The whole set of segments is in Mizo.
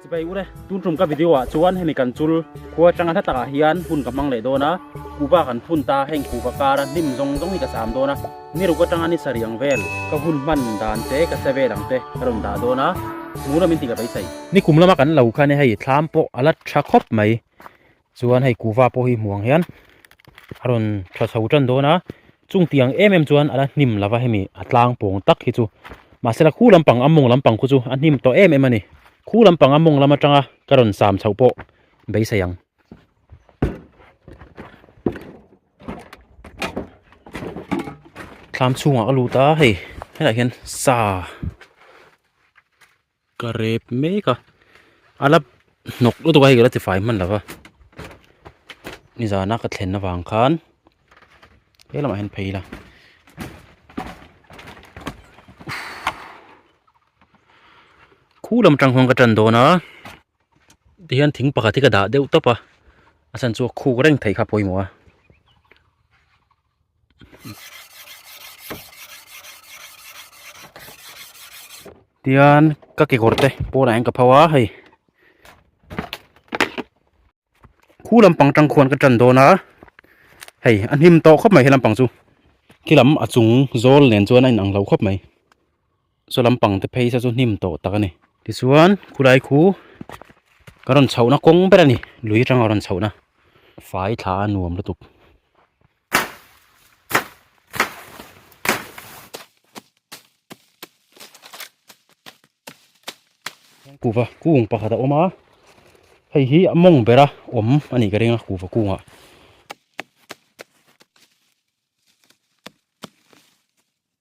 Chibai ure, tun tum ka video ah chuan hemi kan chul khua tanga hla takah hian hun ka hmang leh dawn a, kuba kan phun ta, heng kuba kar a hnim zawng zawng hi ka sam dawn a, ni ruk atanga ni sariang vel ka hun hman dan te ka se vel ang te ka rawn dah dawn a, mulo min ti ka beisei. Ni kum lama kan lo khan e hei thlam pawh a la tha khawp mai, chuan hei kuhva pawh hi hmuh ang hian a rawn tha chho tan dawn a chung tiang em em chuan ala hnim lo va hemi a tlang pawng tak hi chu mahse lam khu lampang a mawng lampang khu chu a hnim tawh em em a ni khu lampang a mawng lam atanga ka rawn sam chho pawh beisei ang. thlam chhungah ka lut a hei helaiah hian sa. Ka rep mek a, a la hnawk lutuk a hei ka la tifai hman lo va, nizan a ka thlen avang khan he lamah hian phei ila khulam atang khan ka tan dawn a, tihian thing pakhat hi ka dah deuh tawp a, a chhan chu a khuk reng thei kha a pawimawh a. tian ka kekawr te pawnah hian ka phau a hei khu lampang atang khuan ka tan dawn a hei a hnim tawh khawp mai he lampang chu khi lam a chung zawl nen chuan a inang lo khawp mai. Saw lampang te phaisa chu hnim tawh tak a ni. Tichuan khulai khu ka rawn chhohna kawng ber a ni, lui atanga rawn chhohna. Fai thla a nuam lutuk. Kuhva kung pakhat a awm a, hei hi a mawng bera awm a nih ka ring a, kuhva kungah.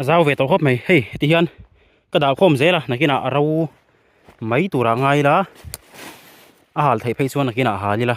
a zau ve tawh khawp mai hei heti hian ka dah khawm zel a nakinah a ro mai tura a ngai ila a hal theih phei chuan nakinah a hal ila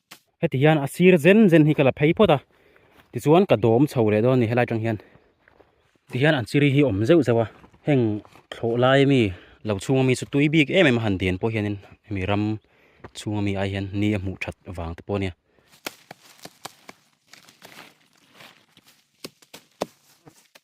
heti hian a sir zen zen hi ka la phei phawt a tichuan ka dawm chho leh dawn a ni helai atang hian tihian an siri hi awm zeuh zeuh a heng thlawh lai a mi lo chhunga mi chu tui bik em em a han dian pawh hianin hemi ram chhunga mi ah hian ni a hmuh that vang te pawh a nia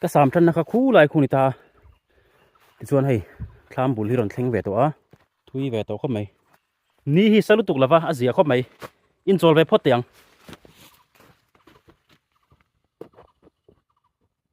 ka sam than na kha khu lai khu ni ta ti chuan hei thlam bul hi rawn thleng ve tawh a thui ve tawh khawp mai ni hi sa lutuk lova a zia khawp mai in chawl ve phawt teh ang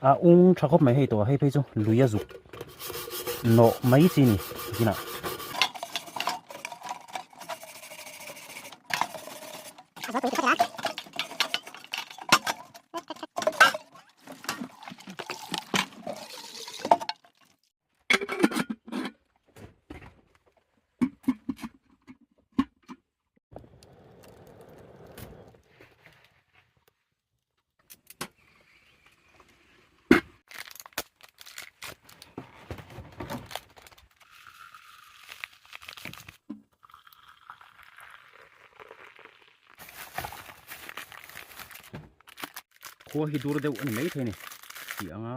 a ung tha khawp mai hei tawh hei phei chu lui a zuk nawh mai chi ni zinah khua hi dur deuh a ni maithei a ni tih ang a.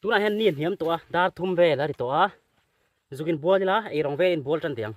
tunah hian ni hniam tawh a dar thum vel a ri tawh a zugin bual ila ei rang velin bual tan tih ang.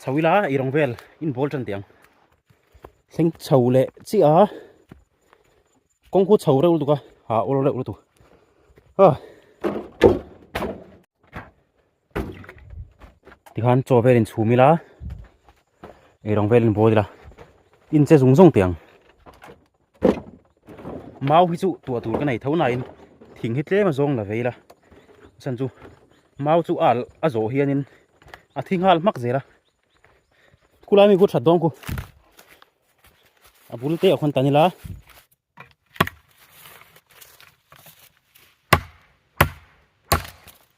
chho ila i rong vel in ball tan tiang thleng chho le chi a kong khu chho reuh lutuka ha ol reuh lutu ha ti khan chaw vel in chhum ila i rong vel in ball ila in che zung zung tiang mau hi chu tua tur ka nei tho nain thing hi tlem a zawng la vei la chan chu mau chu al a zawh hianin a thi nghal hmak zela khulai mi ku that dawng ku a bul te a khon ta nila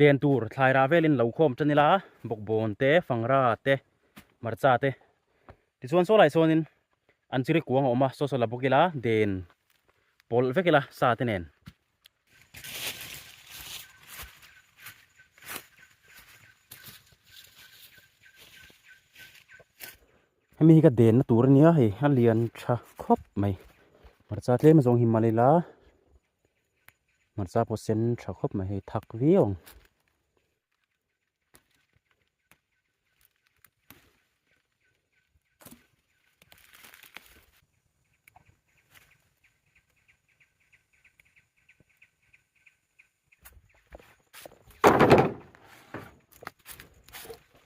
Den tur thlai rah velin lo khawm tan ila bawkbawn te fangra te hmarcha te tichuan saw lai sawn in an chi ri kuang a awm a saw saw la bawk ila den pawlh vek ila sa te nen hemi hi ka den na tur ania hei a lian tha khawp mai hmarcha tlem azawng hi mal ila. hmarcha pawh sen tha khawp mai hei thak viau ang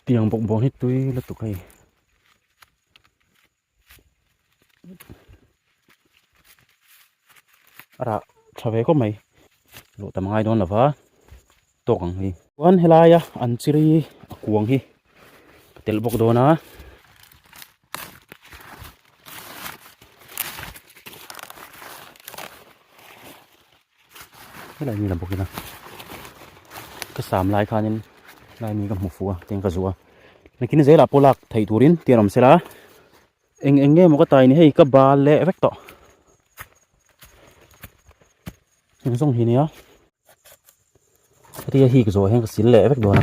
tiang bawk bawk hi tui lutuk a ni. arah tha ve khawp mai luh tam a ngai dawn lova tawk ang hi chuan helaia an chi ri a kuang hi ka telh bawk dawn a helai nila bawkin a ka sam lai khanin laimi ka hmu fu a tin ka zu a nakin zela pawh lak thei turin tih an awm sela eng eng nge maw ka tai ni hei ka bal leh vek tawh eng zawng hi nia ria hik zawh hian ka sil leh vek dawn a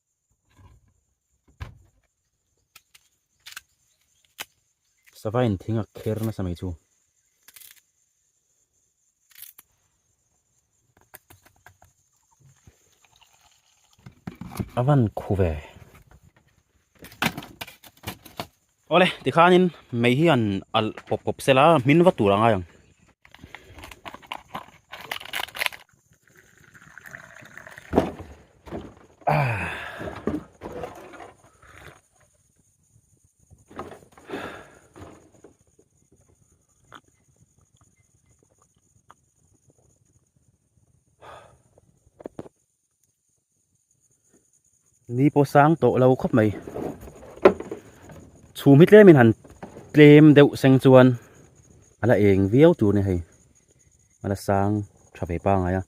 sava in thing a kher nasa mai chu a van khu ve. Awle tikhanin mei hi an al kop kop sela min va tur angai ang ni pawh sang tawh lo khawp mai chhum hi tlem in han tlem deuh seng chuan a la eng viau tur a ni hei a la sang tha ve pangai a.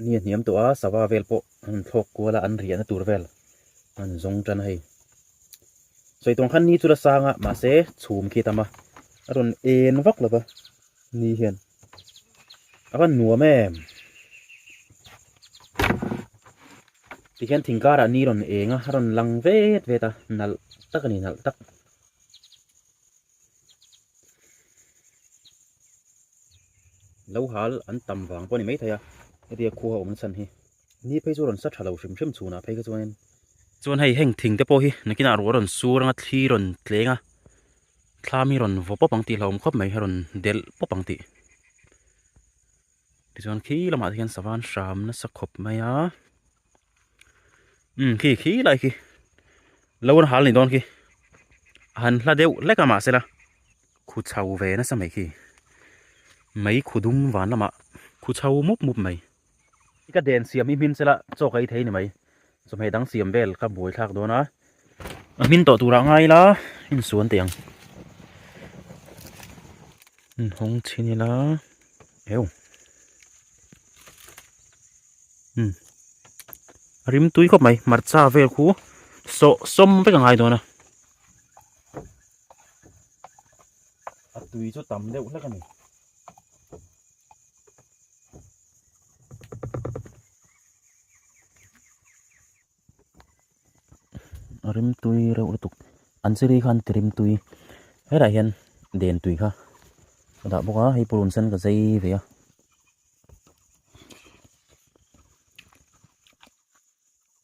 Ni a hniam tawh a sava vel pawh an thlawk kual a an riahna tur vel an zawng tan hei sawi tawn khan ni chu la sang a mahse chhum khi a tam a a rawn en vak lo va. Ni hian a rawn nuam em. Tikhian thing kara ni rawn eng a, a rawn lang vet vet a, nalh tak a ni, nalh tak. Lo hal an tam vang pawh a ni mai thei a, hetia khuaa awmna chhan hi. Ni phei chu a rawn sa tha lo hrim hrim chhunah phei kha chuanin. Chuan hei heng thingte pawh hi nakinah ruah a rawn sur ang a, thli rawn tleng a. thlam hi rawn vaw pawp ang tih hlauhawm khawp mai a rawn delh pawp ang tih tichuan khi lamah te khian sava an hram nasa khawp mai a umm khi khi lai khi lo rawn hal a ni dawn khi a han hla deuh hlek a mahse la khu chho ve nasa mai khi mai khu dum vân lamah khu chho mup mup mai. I ka den siam i hmin sela chawk ei thei ni mai. Chawhmeh dang siam vel ka buai thlak dawn a. A hmin tawh turah ngai ila insuan teh ang. Inhawng chhin ila. Eww. Hmm. A rim tui khawp mai. Hmarcha vel khu sawh sawm vek a ngai dawn a. A tui chu tam deuh hlek a ni. rimtui reuh lutuk an chiri khan ti rimtui helaiah hian den tui kha a dah bawk a hei pawh rawn sen ka zai ve a.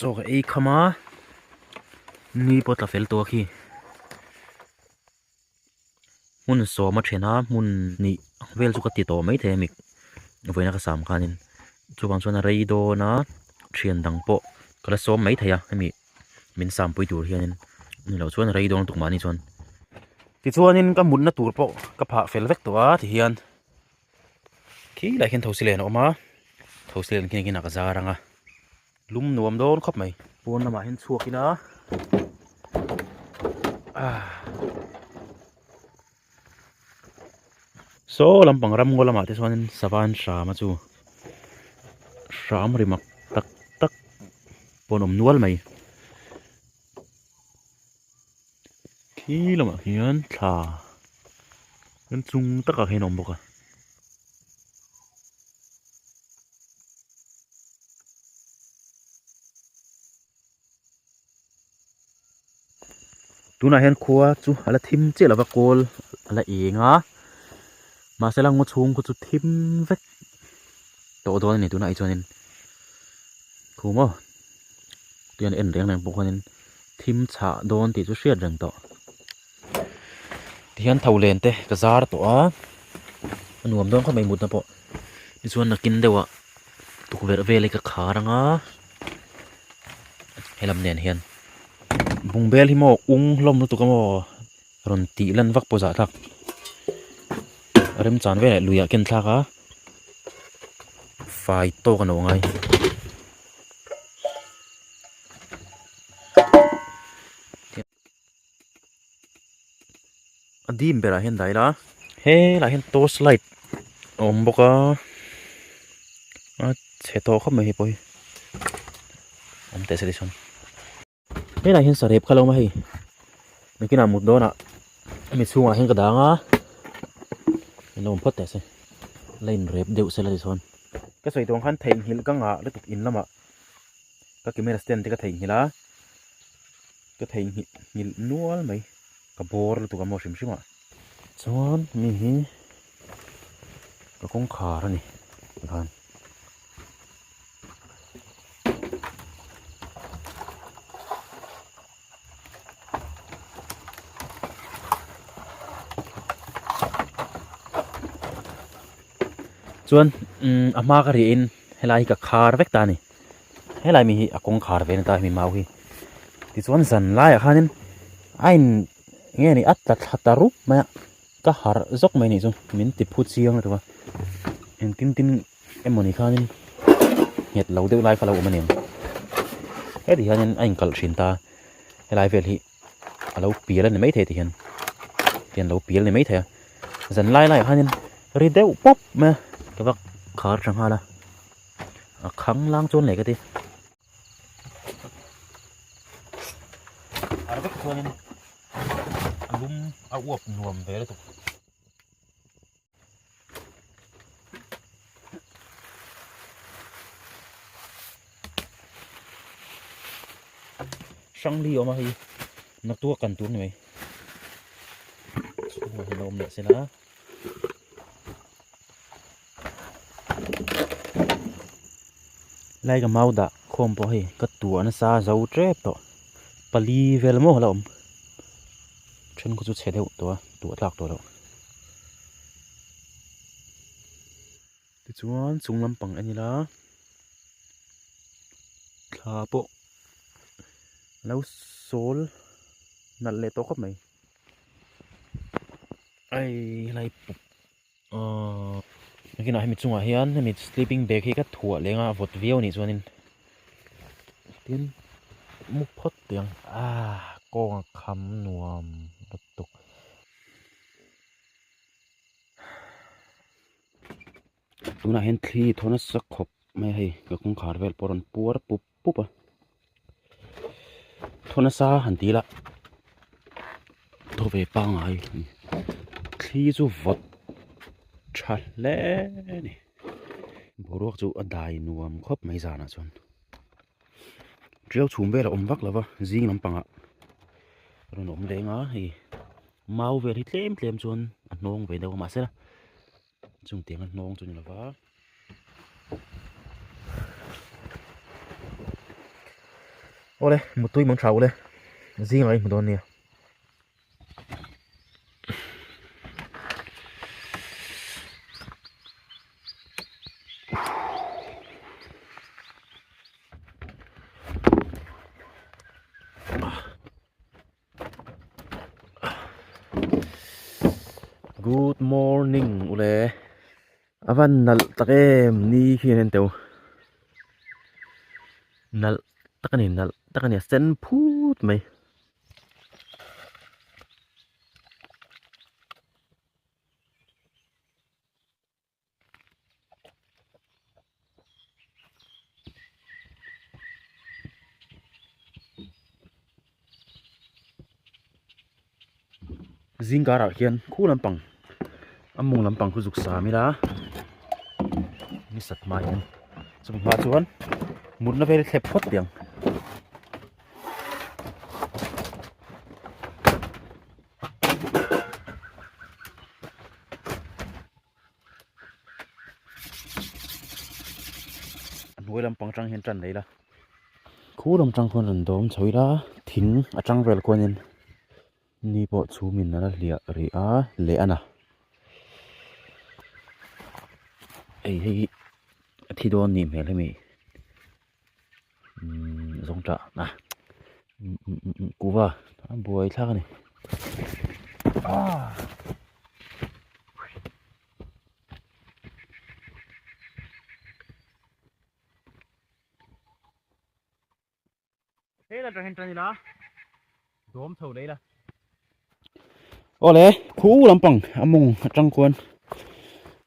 chaw ka ei kham a ni pawh tla fel tawh a khi. hmun sawma thena hmun hnih vel chu ka ti tawh mai thei a mik vawiina ka sam khanin chuvang chuan a rei dawn a thian dang pawh ka la sawm mai thei a hemi min sampui tur hianin ni loh chuan a rei dawn tuk mahni chuan tichuanin ka mutna tur pawh ka phah fel vek tawh a ti hian khi lah hian thosi len a awm a thosi len khi khi nâk zar ang a. Lum nuam dawn khawp mai. Pawn lamah hian chhuak ila ah. Saw lampang ramngaw lamah te chuan in sava in hrama chu hram rimak tak tak pawn awm nual mai. khi lamah hian thla ram chhung takah hian a awm bawk a. tunah hian khua chu a la thim chiah lova kawl a la eng a. Mahse lam ngaw chhung khaw chu thim vek tawh dawn a ni tunah hi chuanin thu maw tui an en reng reng pawh khanin thim chhah dawn tih chu hriat reng tawh tihian tho len te ka zar tawh a a nuam dawn khawp mai mutna pawh tichuan nakin deuhah tukverh vel hi ka khar ang a he lam nen hian bungbel hi maw ung hlawm lutuk a maw. rawn tih lan vak pawh zah thlak remchang vêlah lui ah ken thlak a fai tâwk a no ngai a dim berah hian dai la helah hian torch light a awm bawk a a chhe tawh khawp mai hi pawh hi awm teh se chi hrang. Helai hian sarep kha lo ma hei bikinah mut dawnah hemi chhungah hian ka dang a min lo awm phawt teh se la inrep deuh se la ti chuan ka sawi dawn khan theihnghilh ka ngah lutuk in lamah ka camera stand te ka theihnghilh a ka theihnghilh nghilh nual mai ka bawr lutuk a maw hrim hrim a chuan mi hi ka kawngkhar a ni tikhan. chuan umm a hma ka rih in helai hi ka khar vek ta a ni helai mi hi a kawngkhar ve a ni ta hemi mau hi tichuan zan laiah khan in a in eng nge ni a tla tha ta rup mai a. Ka harh zawk mai ni chu min ti phu chiang reuh a, eng tin tin emawni khanin nghet lo deuh lai kha lo awm a ni ang. Heti hianin a inkalh thin ta a, helai vel hi a lo pial a ni maithei a tihian, tian lo pial a ni maithei a, zan lai laiah khanin ri deuh pawp mai a, ka va khar tha nghal a, a khang lang chuan leh ka ti. Ar vek chuanin a lum a uap nuam ve lutuk. Hrang li awm a hei, na tu a kan tur ni mai. Chhungah hi a lo awm leh se la. Helai ka mau dah khawm pawh hei ka tuah nasa zo tep tawh pali vel maw ala awm thenkhaw chu chhe deuh tawh a tuah tlak tawh loh tichuan chung lampang en ila thla pawh alo sawl nalh leh tawh khawp mai ai helai pup-- Nakinah hemi chungah hian hemi sleeping bag hi ka thuah leng a, a vawt viau nih chuan in tin muk phawt tih ang ah kawng a kham nuam lutuk. Tunah hian thli thaw nasa khawp mai hei ka kawngkhar vel pawh a rawn puar pup. pup a thaw nasa han ti ila thaw ve pangai a ni thli chu vawt tha hle a ni boruak chu a dai nuam khawp mai zan ah chuan ṭial chhum vel a awm vak lo va zing lampang ah a rawn awm leng a hei mau vel hi tlem tlem chuan a hnawng ve deuh a mahse-- Chungte anga hnawng chu ni lova Awle mutui man tha ule zing lai hmu dawn nia Good morning ule a van nalh tak em ni khi a en teh u nalh tak a ni nalh tak a ni a sen phut mai zing karah hian khu lampang a mung lampang khu zuk sâm ila ni sat hmâ hian chumi hma chuan mutna vêl thlep phawt diang. a hnuai lampang atang hian tan neila khu lam atang khawn rawn dawm chho ila thing atang vel khuanin ni pawh chhum in ala hliah rih a leh ana hei hi a thi dawn nih hmel hi mi. zawng tah a kuva a buai thlak a ni Hei la trahin tani la. Dom tho lei la. Ole, khu lampang among atang kuan.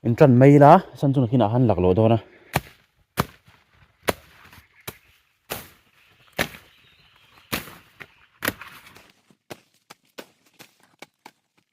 In tran mai la, san chuna kina han lak lo dona.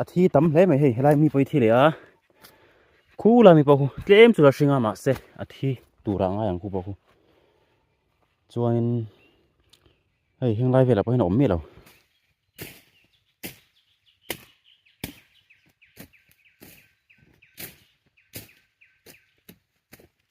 a thi tam hle mai hei helai mi pawh hi thi leh a khu la mi pawh tlem chu a hring a mahse a thi tur ah ngai ang khu pawh khu chuanin hei heng lai velah pawhin a awm miah lo.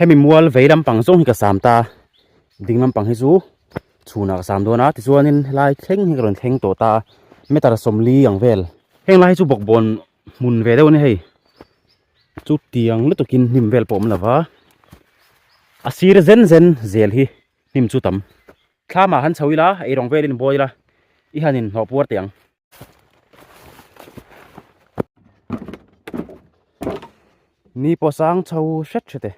hemi mual vei lampang zawng hi ka sam ta ding lampang hi chu chhunah ka sam dawn a tichuanin helai thleng hi ka rawn thleng tawh ta meter sawmli ang vel heng lai hi chu bawkbawn hmun ve deuh a ni hei chutiang lutuk in hnim vel pawh awm lo va a sir zen zen zel hi hnim chu tam thla mah han chho ila erawng vel in buai ila i han inhlawh puar teh ang. ni pawh sang chho hret hret e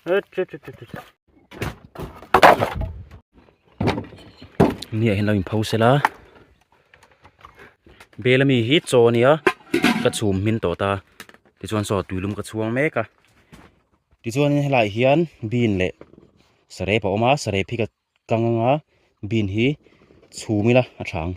hret hret hret hret hret ni ah hian lo in pho sel a bel ami hi chaw a nia ka chhum hming tawh ta tichuan saw tui lum ka chhuang mek a. tichuanin helaiah hian bean leh saree pawh a awm a saree phik a kang ang a bean hi chhum ila a tha ang.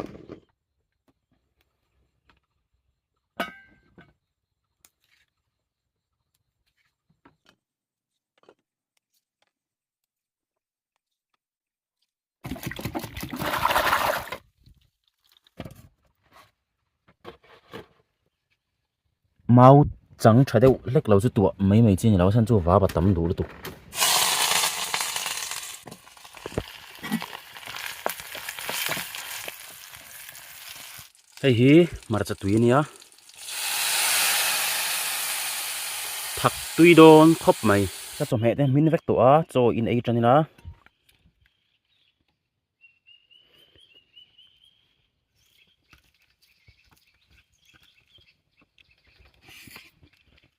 mau chang tha deuh hlek lo chu tuah mai mai chin loh a chhan chu vap a tam duh lutuk. Hei hi hmarcha tui a nia thak tui dawn khawp mai ka chawhmeh te hming vek tawh a chaw in ei tan in a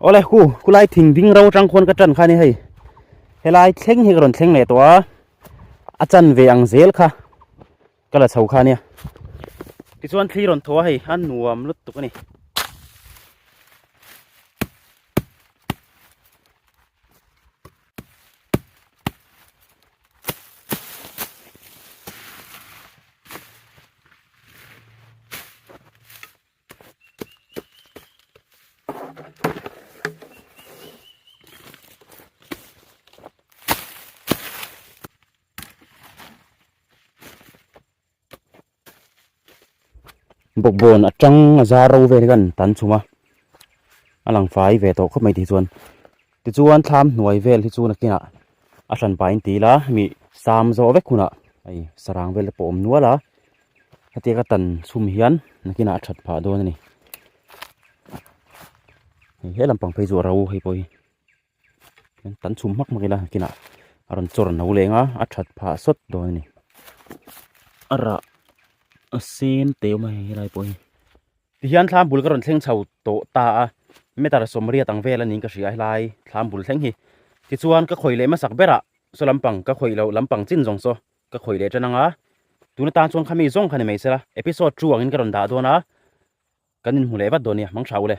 ole khu khulai thing ding ro tang khon ka tan kha ni hei helai thleng hi ron thleng le to a a chan ve ang zel kha ka la chho kha nia ti chuan thli ron thaw hei an nuam lut tuk ani bawkbawn atanga zar ro vel hian kan chhung a a lang fai ve tawh khawp mai tih chuan. Tichuan thlam hnuai vel hi chu nakinah a hlan pahin ti ila hemi sam zawh vek hunah hei sarang vel te pawh a awm nual a, hetiang ka tan chhum hian nakinah a that phah dawn a ni. Hei he lampang phei chu a ro hei pawh hi an tan chhum hmak hmak ila nakinah a rawn chawr no leng a, a that phah sawt dawn a ni. A rah a sen teuh mai helai pawh hi. Tihian thlam bul ka rawn thleng chho tawh ta a, meter sawmriat ang vel anih ka hria helai thlam bul thleng hi. Tichuan ka khawih leh hmasak ber a, saw lampang ka khawih loh lampang chin zawng saw ka khawih leh tan ang a, tun atan chuan khami zawng kha ni mai sela episode two angin ka rawn dah dawn a, kan inhmu leh vat dawn nia hmang tha u le.